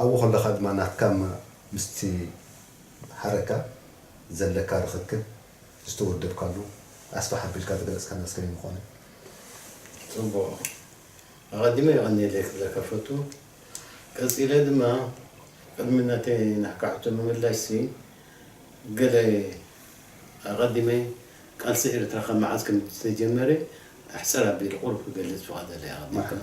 ኣብኡ ከለኻ ድማ ናትካ እማ ምስቲ ሓረካ ዘለካ ርኽክብ ዝተወደብካሉ ኣስፍሕ ኣቢልካ ዝገለጽካናስ ከመይ ምኾነ። ጽቡቕ ኣቐዲመ የቐንየለይ ክብለካ እፈቱ። ቀጺለ ድማ ቅድሚ ናተይ ናህካ ሕቶ ምምላሽሲ ገለ ኣቐዲመ ቃልሲ ኤርትራ ካብ መዓዝ ከምዝተጀመረ ኣሕጽር ኣቢሉ ቁሩብ ክገልጽ ፍቓደለይ ኣቐዲመ። መርሓባ።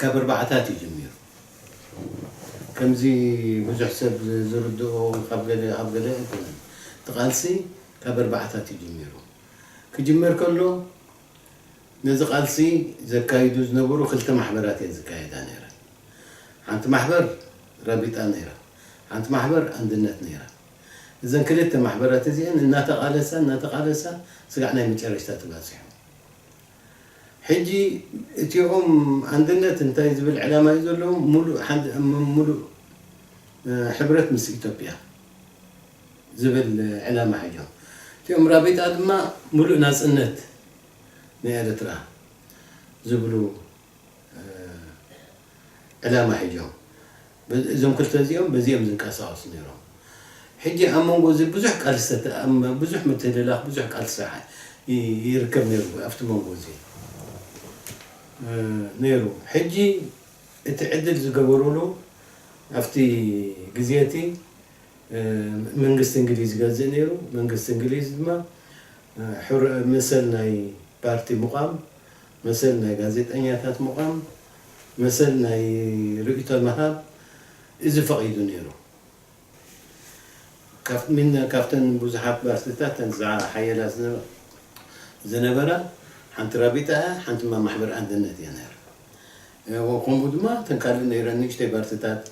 ካብ ኣርባዓታት እዩ ጀሚሩ ከምዚ ብዙሕ ሰብ ዝርድኦ ካብ ገለ ኣብ ገለ ኣይኮነን እቲ ቃልሲ ካብ ኣርባዓታት እዩ ጀሚሩ ክጅመር ከሎ ነዚ ቃልሲ ዘካይዱ ዝነበሩ ክልተ ማሕበራት እየን ዝካየዳ ነይረን ሓንቲ ማሕበር ራቢጣ ነይራ ሓንቲ ማሕበር ኣንድነት ነይራ እዘን ክልተ ማሕበራት እዚኤን እናተቓለሳ እናተቓለሳ ስጋዕ ናይ መጨረሽታ ተባጺሑ ሕጂ እቲኦም ኣንድነት እንታይ ዝብል ዕላማ እዩ ዘለዎም ሙሉእ ሓድ ሙሉእ ሕብረት ምስ ኢትዮጵያ ዝብል ዕላማ ሒዞም እቲኦም ራቢጣ ድማ ሙሉእ ናጽነት ንኤርትራ ዝብሉ ዕላማ ሒዞም እዞም ክልተ እዚኦም በዚ እዮም ዝንቀሳቀሱ ነይሮም ሕጂ ኣብ መንጎ እዚ ብዙሕ ቃልስተ ብዙሕ ምትህልላኽ ብዙሕ ቃልሲ ይርከብ ነይሩ ኣብቲ መንጎ እዚ ነይሩ ሕጂ እቲ ዕድል ዝገበሩሉ ኣብቲ ግዜ እቲ መንግስቲ እንግሊዝ ይገዝእ ነይሩ መንግስቲ እንግሊዝ ድማ መሰል ናይ ፓርቲ ምቛም መሰል ናይ ጋዜጠኛታት ምቛም መሰል ናይ ርእይቶ ምሃብ እዚ ፈቒዱ ነይሩ። ሚነ ካብተን ብዙሓት ባልትታት እተን ዝሓየላ ዝነበራ ሓንቲ ራቢጣ እያ፣ ሓንቲ ድማ ማሕበር ኣንድነት እያ ነይራ። ከምኡ ድማ እተን ካልእ ነይረን ንእሽተይ ባልትታት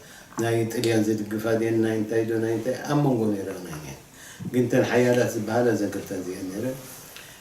ናይ ጥልያን ዝድግፋ ድየን ናይ እንታይ ዶ ናይ እንታይ ኣብ መንጎ ነይረን እየን። ግን እተን ሓያላት ዝበሃላ እዘን ክልተ እዚኤን ነይረን።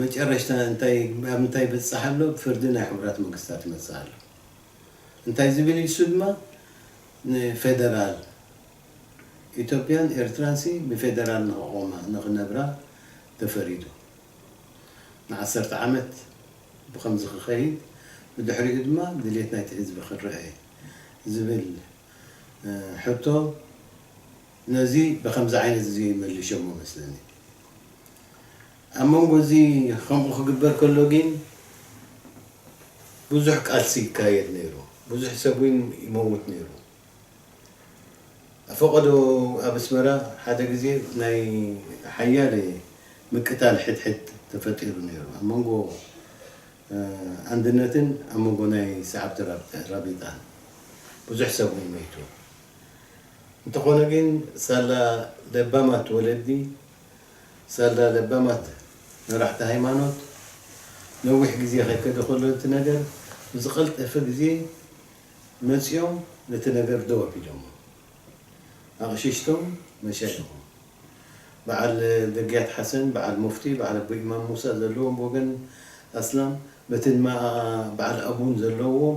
መጨረሽታ እንታይ ኣብ እንታይ ይበጽሕ ኣሎ ፍርዲ ናይ ሕቡራት መንግስታት ይመጽእ ኣሎ እንታይ ዝብል ኢዩ ንሱ ድማ ንፌደራል ኢትዮጵያን ኤርትራን ሲ ብፌደራል ንክቆማ ንክነብራ ተፈሪዱ ንዓሰርተ ዓመት ብከምዚ ክከይድ ብድሕሪኡ ድማ ድሌት ናይቲ ህዝቢ ክንረኤ ዝብል ሕቶ ነዚ ብኸምዚ ዓይነት እዚ መልሸሞ መስለኒ። ኣብ መንጎ እዚ ከምኡ ክግበር ከሎ ጊን ብዙሕ ቃልሲ ይካየድ ነይሩ፣ ብዙሕ ሰብ ውን ይመውት ነይሩ። ኣፈቀዶ ኣብ ኣስመራ ሓደ ግዜ ናይ ሓያለ ምቅታል ሕድሕድ ተፈጢሩ ነይሩ ኣብ መንጎ ኣንድነትን ኣብ መንጎ ናይ ሰዓብቲ ራቢጣን ብዙሕ ሰብ ውን መይቱ። እንተኾነ ግን ሳላ ለባማት ወለዲ፣ ሳላ ለባማት መራሕቲ ሃይማኖት ነዊሕ ግዜ ከይከደ ከሎ እቲ ነገር ብዝቐልጠፈ ግዜ መጺኦም ነቲ ነገር ደው ኣቢሎሞ። ኣቕሽሽቶም መሻይኾም በዓል ደግያት ሓሰን፣ በዓል ሙፍቲ፣ በዓል ኣቡ ኢማም ሙሳ ዘለዎም ብወገን ኣስላም በቲ ንማኣ በዓል ኣቡን ዘለዎም፣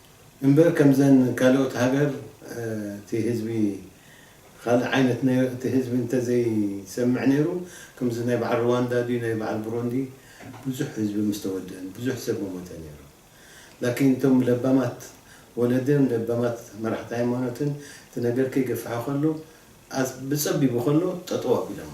እምበር ከምዘን ካልኦት ሃገር እቲ ህዝቢ ኻልእ ዓይነት ነይሩ እቲ ህዝቢ እንተዘይሰምዕ ነይሩ ከምዚ ናይ በዓል ርዋንዳ ድዩ ናይ በዓል ብሮንዲ ብዙሕ ህዝቢ ምስተወደእን ብዙሕ ሰብ ምሞተ ነይሩ ላኪን እቶም ለባማት ወለድን ለባማት መራሕቲ ሃይማኖትን እቲ ነገር ከይገፈሐ ኸሎ ብፀቢቡ ኸሎ ጠጠው ኣቢሎሞ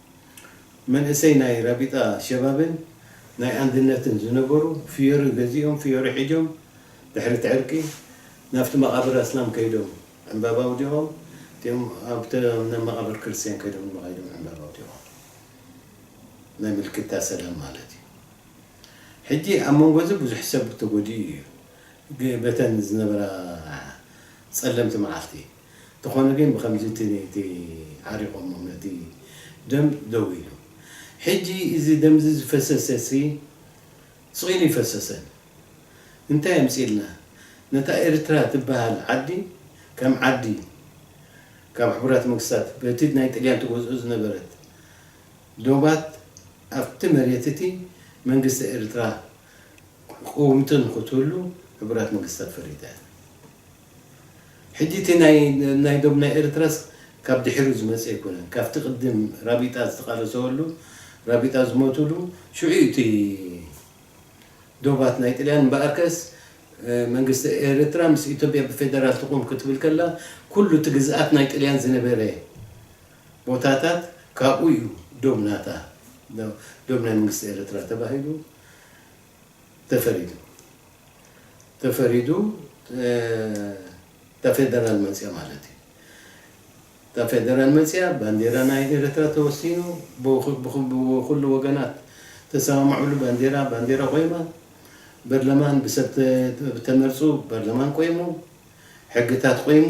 መንእሰይ ናይ ራቢጣ ሸባብን ናይ ኣንድነትን ዝነበሩ ፍዮሪ ገዚኦም ፍዮሪ ሒጆም ድሕሪ እቲ ዕርቂ ናብቲ መቓብር ኣስላም ከይዶም ዕንባባ ኣውዲቖም እቲኦም ኣብቲ ናብ መቓብር ክርስትያን ከይዶም ድማ ከይዶም ዕንባባ ኣውዲቖም ናይ ምልክታ ሰላም ማለት እዩ ሕጂ ኣብ መንጎ እዚ ብዙሕ ሰብ ተጎዲኡ እዩ በተን ዝነበራ ጸለምቲ መዓልቲ እንተኾነ ግን ብኸምዚ እቲ እቲ ዓሪቖሞም ነቲ ደም ደው ኢሉ። ሕጂ እዚ ደምዚ ዝፈሰሰሲ ስቕ ኢሉ ኣይፈሰሰን። እንታይ ኣምጺእልና ነታ ኤርትራ ትበሃል ዓዲ ከም ዓዲ ካብ ሕቡራት መንግስታት በቲ ናይ ጥልያን ትገዝኦ ዝነበረት ዶባት ኣብቲ መሬት እቲ መንግስቲ ኤርትራ ቅውምቲ ንኽትህሉ ሕቡራት መንግስታት ፈሪዳ እያ። ሕጂ እቲ ናይ ዶብ ናይ ኤርትራስ ካብ ድሒሩ ዝመጸ ኣይኮነን ካብቲ ቅድም ራቢጣ ዝተቃለሰወሉ ራቢጣ ዝሞቱሉ ሽዑ እዩ እቲ ዶባት ናይ ጥልያን እምበኣርከስ መንግስቲ ኤርትራ ምስ ኢትዮጵያ ብፌደራል ትቁም ክትብል ከላ ኩሉ እቲ ግዝኣት ናይ ጥልያን ዝነበረ ቦታታት ካብኡ እዩ ዶብ ናታ ዶብ ናይ መንግስቲ ኤርትራ ተባሂሉ ተፈሪዱ ተፈሪዱ እታ ፌደራል መጽያ ማለት እዩ እታ ፌደራል መጽያ ባንዴራ ናይ ኤርትራ ተወሲኑ ብኩሉ ወገናት ተሰማምዑሉ ባንዴራ ባንዴራ ቆይማ በርለማን ብሰብ ተመርጹ በርለማን ቆይሙ ሕግታት ቆይሙ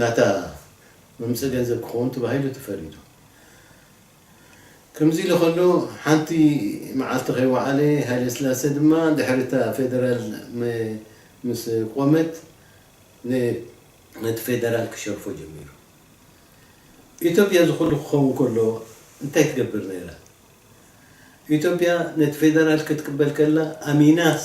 ናታ ምምጸ ገንዘብ ክኸውን ተባሂሉ ተፈሪዱ። ከምዚ ኢሉ ከሎ ሓንቲ መዓልቲ ከይወዓለ ሃይለስላሰ ድማ ድሕሪ እታ ፌደራል ምስ ቆመት ነቲ ፌደራል ክሸርፎ ጀሚሩ። ኢትዮጵያ እዚ ኩሉ ክኸውን ከሎ እንታይ ትገብር ነይራ? ኢትዮጵያ ነቲ ፌደራል ክትቅበል ከላ ኣሚናስ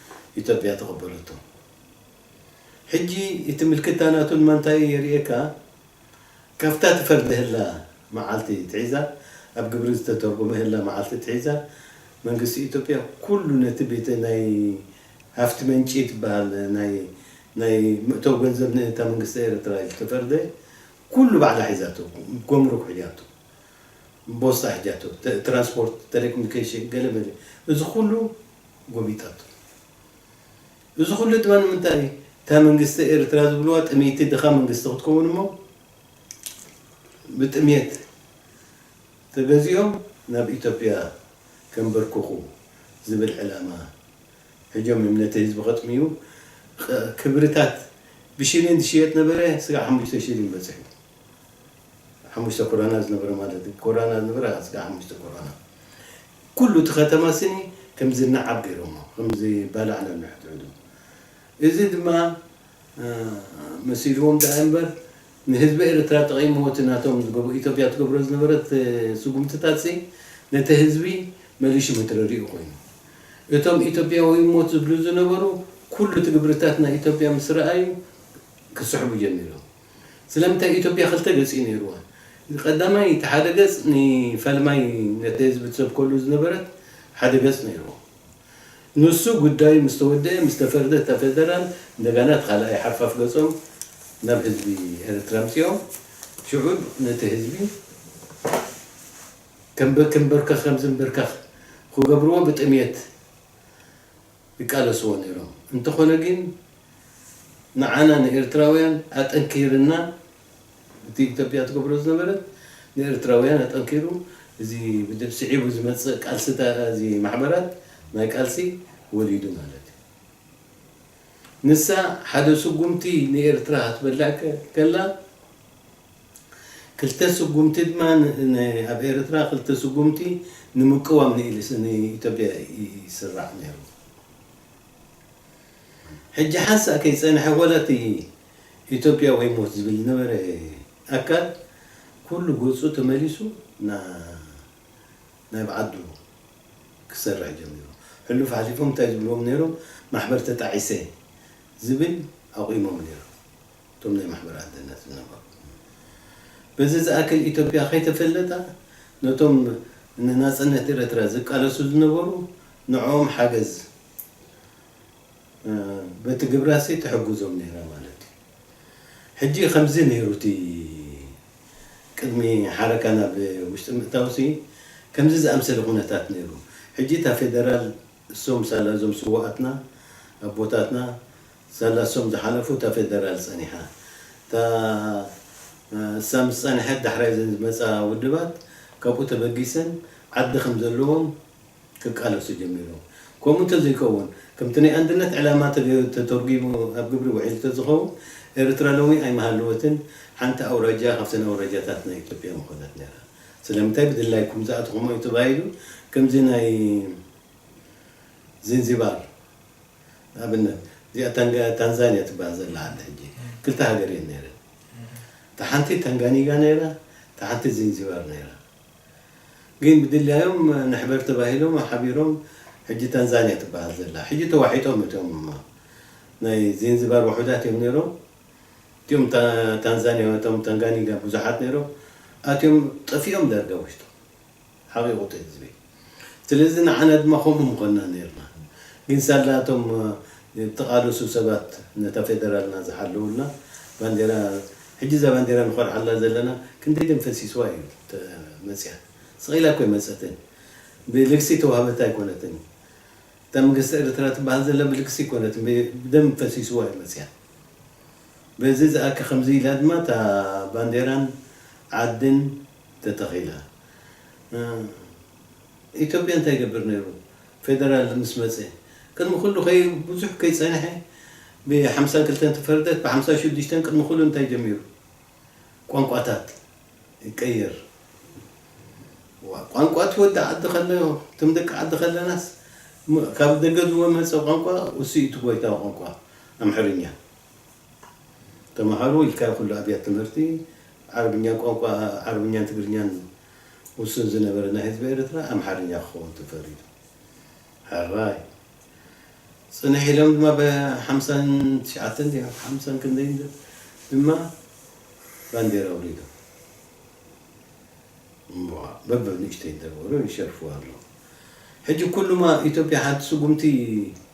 ኢትዮጵያ ተቐበለቶ። ሕጂ እቲ ምልክታ ናቱ ንማንታይ እዩ የርእየካ? ካብታ ትፈርደህላ መዓልቲ ትሒዛ ኣብ ግብሪ ዝተተርጎመህላ መዓልቲ ትሒዛ መንግስቲ ኢትዮጵያ ኩሉ ነቲ ቤተ ናይ ሃፍቲ መንጪ ትበሃል ናይ ናይ ምእተው ገንዘብ ንእታ መንግስቲ ኤረትራ ኢሉ ተፈርደ ኩሉ ባዕላ ሒዛቶ ጎምሩክ ሒጃቶ ቦስጣ ሒጃቶ ትራንስፖርት ተሌኮሚኒኬሽን ገለ መለ እዚ ኩሉ ጎቢጠቶ እዚ ኩሉ ድማ ንምንታይ እዩ እታ መንግስቲ ኤርትራ ዝብልዋ ጥምይቲ ድኻ መንግስቲ ክትከውን እሞ ብጥምየት ተገዚኦም ናብ ኢትዮጵያ ከንበርክኹ ዝብል ዕላማ ሕጆም እዮም ነቲ ህዝቢ ከጥምዩ ክብርታት ብሽሊን ዝሽየጥ ነበረ ስጋዕ ሓሙሽተ ሽሊን በጺሑ ሓሙሽተ ኮራና ዝነበረ ማለት ኮራና ዝነበረ ስጋዕ ሓሙሽተ ኮራና ኩሉ እቲ ከተማ ስኒ ከም ዝነዓቕ ገይሮሞ ከም ዝባላዕ ነንሕድሕዱ እዚ ድማ መሲልዎም ደኣ እንበር ንህዝቢ ኤርትራ ጠቒምዎ እቲ ናቶም ዝገብ ኢትዮጵያ ትገብሮ ዝነበረት ስጉምትታት ሲ ነቲ ህዝቢ መሊሹ መትረሪኡ ኮይኑ እቶም ኢትዮጵያዊ ሞት ዝብሉ ዝነበሩ ኩሉ እቲ ግብርታት ናይ ኢትዮጵያ ምስ ረኣዩ ክስሕቡ ጀሚሮም ስለምንታይ ኢትዮጵያ ክልተ ገጽ'ዩ ነይሩዋ። ቀዳማይ እቲ ሓደ ገጽ ንፈልማይ ነቲ ህዝቢ ትሰብከሉ ዝነበረት ሓደ ገጽ ነይሩዎ። ንሱ ጉዳዩ ምስ ተወደኣ ምስ ተፈርደ እታ ፌደራል እንደጋና እቲ ካልኣይ ሓርፋፍ ገጾም ናብ ህዝቢ ኤርትራ ኣምጺኦም ሽዑ ነቲ ህዝቢ ከም ክንበርከኽ ከም ዝንብርከኽ ክገብሩዎ ብጥምየት ይቃለስዎ ነይሮም እንተኾነ ግን ንዓና ንኤርትራውያን ኣጠንኪርና እቲ ኢትዮጵያ ትገብሮ ዝነበረት ንኤርትራውያን ኣጠንኪሩ እዚ ስዒቡ ዝመጽእ ቃልስታ እዚ ማሕበራት ናይ ቃልሲ ወሊዱ ማለት እዩ ንሳ ሓደ ስጉምቲ ንኤርትራ ክትበልዕ ከላ ክልተ ስጉምቲ ድማ ኣብ ኤርትራ ክልተ ስጉምቲ ንምቅዋም ንኢትዮጵያ ይስራሕ ነይሩ። ሕጂ ሓንሳእ ከይጸንሐ ወላ እቲ ኢትዮጵያ ወይ ሞት ዝብል ዝነበረ ኣካል ኩሉ ገጹ ተመሊሱ ናብ ዓዱ ክሰርሕ ጀሚሩ። ሕሉፍ ሓሊፎም እንታይ ዝብልዎም ነይሮም ማሕበር ተጣዒሰ ዝብል ኣቑሞም ነይሮም። እቶም ናይ ማሕበር ኣንድነት ዝነበሩ በዚ ዝኣክል ኢትዮጵያ ከይተፈለጣ ነቶም ንናጽነት ኤረትራ ዝቃለሱ ዝነበሩ ንዕኦም ሓገዝ በቲ ግብራሲ ትሕግዞም ነይራ ማለት እዩ ሕጂ ከምዚ ነይሩ እቲ ቅድሚ ሓረካ ናብ ውሽጢ ምእታውሲ ከምዚ ዝኣምሰለ ኩነታት ነይሩ ሕጂ እታ ፌደራል እሶም ሳላ እዞም ስውኣትና ኣቦታትና ዘላ ሶም ዝሓለፉ እታ ፌደራል ጸኒሓ እታ ንሳ ምስ ጸንሐት ዳሕራይ እዘን ዝመጻ ውድባት ካብኡ ተበጊሰን ዓዲ ከም ዘለዎም ክቃለሱ ጀሚሮም ከምኡ እንተዘይከውን ከምቲ ናይ ኣንድነት ዕላማ ተገይሩ ተተርጉሙ ኣብ ግብሪ ውዒሉ ተዝኸውን ኤርትራ ሎሚ ኣይምሃለወትን ሓንቲ ኣውራጃ ካብተን ኣውራጃታት ናይ ኢትዮጵያ ምኾነት ነይራ ስለምንታይ ብድላይኩም ዝኣተኹሞ እዩ ተባሂሉ ከምዚ ናይ ዚንዚባር ንኣብነት እዚኣ ታንጋ ታንዛንያ ትባሃል ዘላ ዓዲ ሕጂ ክልተ ሃገር እየን ነይረን እታ ሓንቲ ታንጋኒጋ ነይራ እታ ሓንቲ ዚንዚባር ነይራ ግን ብድላዮም ንሕበር ተባሂሎም ሓቢሮም ሕጂ ታንዛንያ ትባሃል ዘላ ሕጂ ተዋሒጦም እቶም ናይ ዚንዚባር ውሑዳት እዮም ነይሮም እቲኦም ታንዛንያ እቶም ታንጋኒጋ ብዙሓት ነይሮም ኣትዮም ጠፊኦም ዳርጋ ውሽጦም ሓቂቁተይ ህዝበይ ስለዚ ንዓና ድማ ከምኡ ምኮና ነርና ግን ሳላ እቶም ዝተቃለሱ ሰባት ነታ ፌደራልና ዝሓለውልና ባንዴራ ሕጂ እዛ ባንዴራ ንኮርዓላ ዘለና ክንደይ ደም ፈሲስዋ እዩ መጽያ ስቅ ኢላ እኮ ኣይመጸትን ብልግሲ ተዋህበታ ኣይኮነትን እታ መንግስቲ ኤርትራ ትባሃል ዘላ ብልግሲ ኣይኮነትን ብደም ፈሲስዋ እዩ መጽያ በዚ ዝኣከ ከምዚ ኢላ ድማ እታ ባንዴራን ዓድን ተተኺለ ኢትዮጵያ እንታይ ይገብር ነይሩ ፌደራል ምስ መፀ ቅድሚ ኩሉ ብዙሕ ከይፀንሐ ብ ሓምሳን ክልተን ተፈርደት ብ ሓምሳ ሽዱሽተን ቅድሚ ኩሉ እንታይ ጀሚሩ ቋንቋታት ይቀየር ቋንቋ እቲ ወዲ ዓዲ ከለዮ እቶም ደቂ ዓዲ ከለናስ ካብ ደገ ዝወመፀ ቋንቋ እሱ እዩ እቲ ጎይታ ቋንቋ ኣምሐርኛ ተማሃሩ ኢልካ ኩሉ ኣብያት ትምህርቲ ዓረብኛ ቋንቋ ዓረብኛን ትግርኛን ውሱን ዝነበረ ናይ ህዝቢ ኤርትራ ኣምሓርኛ ክኸውን ተፈሪዱ ሕራይ ጽንሕ ኢሎም ድማ ብ ሓምሳን ትሽዓተን ድዩ ሓምሳን ክንደይን ዶ ድማ ባንዴራ ኣውሪዶም እሞ በበ ንእሽተይ ይደርበሩ ይሸርፍዋ ኣለዉ ሕጂ ኩሉማ ኢትዮጵያ ሓንቲ ስጉምቲ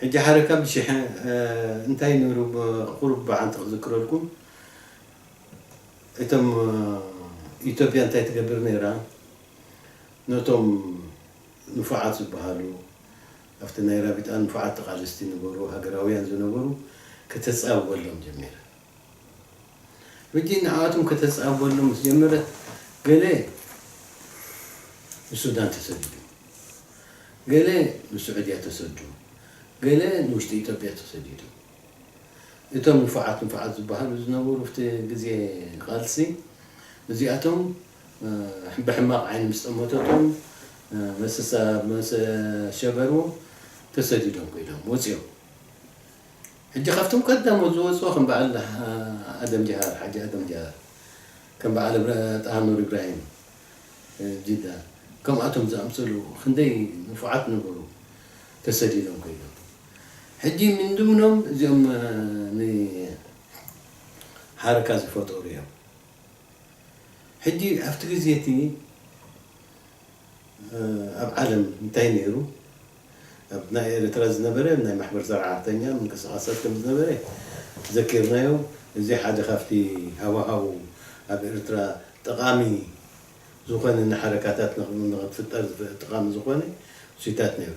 ሕጂ ሓደ ካብ ሽሐ እንታይ ነሩ ቁሩብ መዓልቲ ክዝክረልኩም እቶም ኢትዮጵያ እንታይ ትገብር ነራ ነቶም ንፉዓት ዝብሃሉ ኣብቲ ናይ ራቢጣ ንፉዓት ተቃለስቲ ንበሩ ሃገራውያን ዝነበሩ ክተጻብበሎም ጀሚራ። ሕጂ ንኣኣቶም ከተጻበሎም ምስ ጀመረት ገለ ንሱዳን ተሰዲዶም ገለ ንሱዑድያ ተሰዱ ገለ ንውሽጢ ኢትዮጵያ ተሰዲዶም እቶም ንፉዓት ንፉዓት ዝበሃሉ ዝነበሩ ኣብቲ ግዜ ቃልሲ እዚኣቶም ብሕማቕ ዓይኒ ምስ ጠመተቶም መሰሳ መሰ ሸበሩ ተሰዲዶም ኮይዶም ወጺኦም ሕጂ ካብቶም ቀዳሞት ዝወጹ ከም በዓል ኣደም ጀሃር፣ ሓጂ ኣደም ጀሃር፣ ከም በዓል ጣሃኑር ኢብራሂም፣ ጅዳ፣ ከምኣቶም ዝኣምሰሉ ክንደይ ንፉዓት ነበሩ ተሰዲዶም ከይዶም። ሕጂ ምንድምኖም እዚኦም ንሓረካ ዝፈጠሩ እዮም። ሕጂ ኣብቲ ግዜ እቲ ኣብ ዓለም እንታይ ነይሩ? ኣብ ናይ ኤርትራ ዝነበረ ናይ ማሕበር ሰራሕተኛ ምንቅስቃሳት ከም ዝነበረ ዘኪርናዮ እዚ ሓደ ካብቲ ሃዋሃው ኣብ ኤርትራ ጠቃሚ ዝኮነ ንሓረካታት ንክትፍጠር ጠቃሚ ዝኮነ ሲታት ነይሩ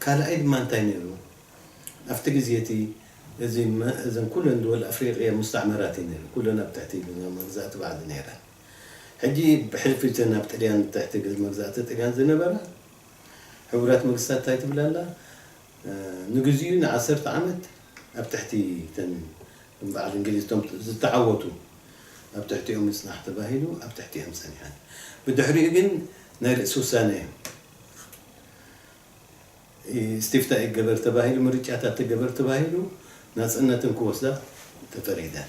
ካልኣይ ድማ እንታይ ነይሩ ኣብቲ ግዜ እቲ እዚ እዘን ኩለን ድወል ኣፍሪቅያ ሙስታዕመራት እዩ ነይሩ ኩለን ኣብ ትሕቲ መግዛእቲ ባዕዲ ነይረን ሕጂ ብሕልፊ እተን ኣብ ጥልያን ትሕቲ መግዛእቲ ጥልያን ዝነበራ ሕቡራት መግስታት እንታይ ትብል ኣላ ንግዚኡ ንዓሰርተ ዓመት ኣብ ትሕቲ እተን ከም በዓል እንግሊዝ እቶም ዝተዓወቱ ኣብ ትሕቲኦም ምጽናሕ ተባሂሉ ኣብ ትሕቲኣን ጸኒሐን ብድሕሪኡ ግን ናይ ርእሲ ውሳነ እስቲፍታ ይገበር ተባሂሉ ምርጫታት ተገበር ተባሂሉ ናጽነትን ክወስዳ ተፈሪደን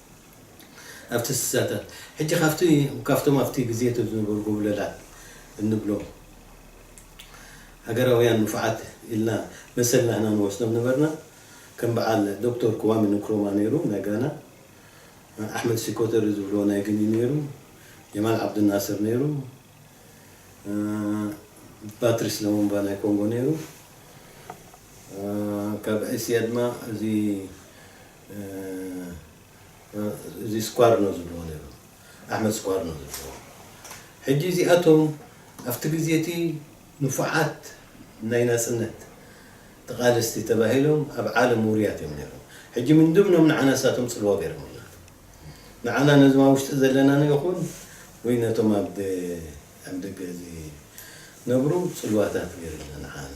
ኣብቲ ስሳታት ሕጂ ካብቲ ካብቶም ኣብቲ ግዜ እቲ ዝነበሩ ጎብለላት እንብሎም ሃገራውያን ንፉዓት ኢልና መሰል ናህና ንወስዶም ነበርና ከም በዓል ዶክቶር ክዋሚ ንክሮማ ነይሩ ናይ ጋና ኣሕመድ ሲኮተሪ ዝብልዎ ናይ ግኒ ነይሩ ጀማል ዓብዱናስር ነይሩ ፓትሪስ ለሙምባ ናይ ኮንጎ ነይሩ ካብ እስያ ድማ እዚ እዚ ስኳር ነው ዝብልዎ ነይሮም ኣሕመድ ስኳር ነው ዝብልዎ ሕጂ እዚኣቶም ኣብቲ ግዜ እቲ ንፉዓት ናይ ናጽነት ተቓለስቲ ተባሂሎም ኣብ ዓለም ውሩያት እዮም ነይሮም ሕጂ ምን ድምኖም ንዓና እሳቶም ጽልዋ ገይሮምልና ንዓና ነዞም ኣብ ውሽጢ ዘለና ነው ይኹን ወይ ነቶም ኣብ ኣብ ደገ እዚ ነብሩ ጽልዋታት ገይሮምና ንዓና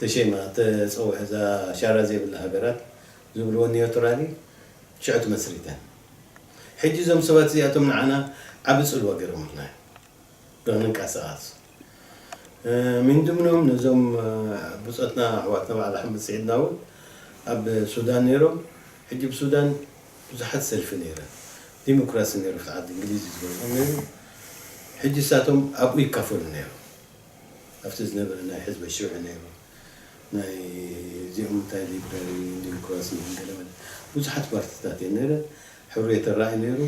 ተሸይማ ትጸውሕ እዛ ሻራ ዘይብላ ሃገራት ዝብልወን ኒዮትራሊ ሽዑ ትመስሪተን ሕጂ እዞም ሰባት እዚኣቶም ንዓና ዓቢ ጽልዋ ገሮምልና እዮም ንክንቃሳቃስ ሚንድምኖም ነዞም ብጾትና ኣሕዋትና በዓል ኣሕመድ ሲዒድና ውን ኣብ ሱዳን ኔሮም ሕጂ ብ ሱዳን ብዙሓት ሰልፊ ኔረን ዲምክራሲ ኔሩ ኣብቲ ዓዲ እንግሊዝ እዩ ዝገዝኦም ኔሩ ሕጂ እሳቶም ኣብኡ ይካፈሉ ኔሮም። ኣብቲ ዝነበረ ናይ ሕዝበ ሽውዒ ነይሩ ናይ እዚኦም እንታይ ሊብራሪ ዲምክራሲ ን ገለ መለ ብዙሓት ፓርቲታት እየን ነይረን ሕሩየተ ራኢ ነይሩ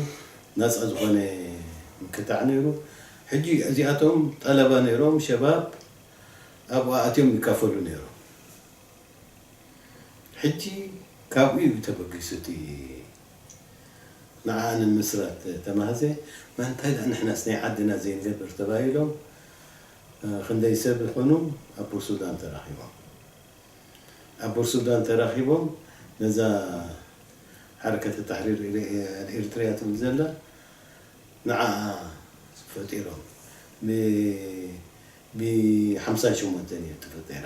ናጻ ዝኾነ ምክታዕ ነይሩ ሕጂ እዚኣቶም ጠለባ ነይሮም ሸባብ ኣብኡ ኣእትዮም ይካፈሉ ነይሮም ሕጂ ካብኡ እዩ ተበጊሱ እቲ ንዓኣ ንምስራት ተማህዘ መን እንታይ ድኣ ንሕናስ ናይ ዓድና ዘይንገብር ተባሂሎም ክንደይ ሰብ ይኾኑ ኣብ ቡርሱዳን ተራኺቦም? ኣብ ቡርሱዳን ተራኺቦም ነዛ ሓረከተ ታሕሪር ኣልኢርትርያ ትብል ዘላ ንዓኣ ፈጢሮም ብ ሓምሳን ሸሞንተን ኢዩ ተፈጢራ።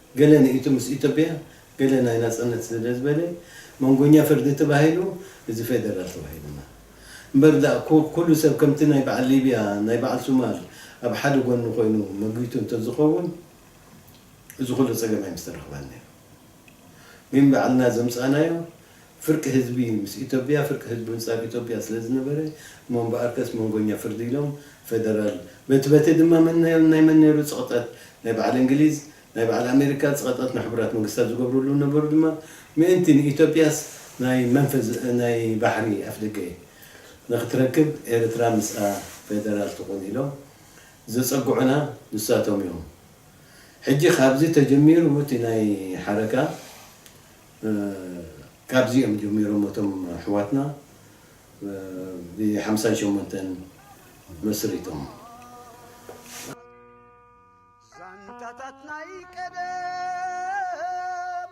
ገለ ንኢቱ ምስ ኢትዮጵያ ገለ ናይ ናጽነት ስለ ዝበለ መንጎኛ ፍርዲ ተባሂሉ እዚ ፌደራል ተባሂሉና እምበር ድኣ ኩሉ ሰብ ከምቲ ናይ በዓል ሊብያ ናይ በዓል ሱማል ኣብ ሓደ ጎኒ ኮይኑ መጊቱ እንተዝኸውን እዚ ኩሉ ጸገም ኣይምስተረኽበን ኔሩ ግን በዓልና ዘምጻእናዮ ፍርቂ ህዝቢ ምስ ኢቶብያ ፍርቂ ህዝቢ ምስ ኣብ ኢቶብያ ስለ ዝነበረ እሞ እምበኣርከስ መንጎኛ ፍርዲ ኢሎም ፈደራል በቲ በቲ ድማ መን ናይ ናይ መን ነይሩ ጽቕጠት ናይ በዓል እንግሊዝ ናይ በዓል ኣሜሪካ ጽቐጠት ንሕቡራት መንግስታት ዝገብርሉ ነበሩ ድማ ምእንቲ ንኢቶብያስ ናይ መንፈዝ ናይ ባሕሪ ኣፍደገ ንኽትረክብ ኤርትራ ምስኣ ፈደራል ትኹን ኢሎም ዘጸግዑና ንሳቶም እዮም ሕጂ ካብዚ ተጀሚሩ እቲ ናይ ሓረካ ካብዚ እዮም ጀሚሮሞ እቶም ኣሕዋትና ብ ሓምሳን ሸሞንተን መስሪቶም። ዛንታታት ናይ ቀደም!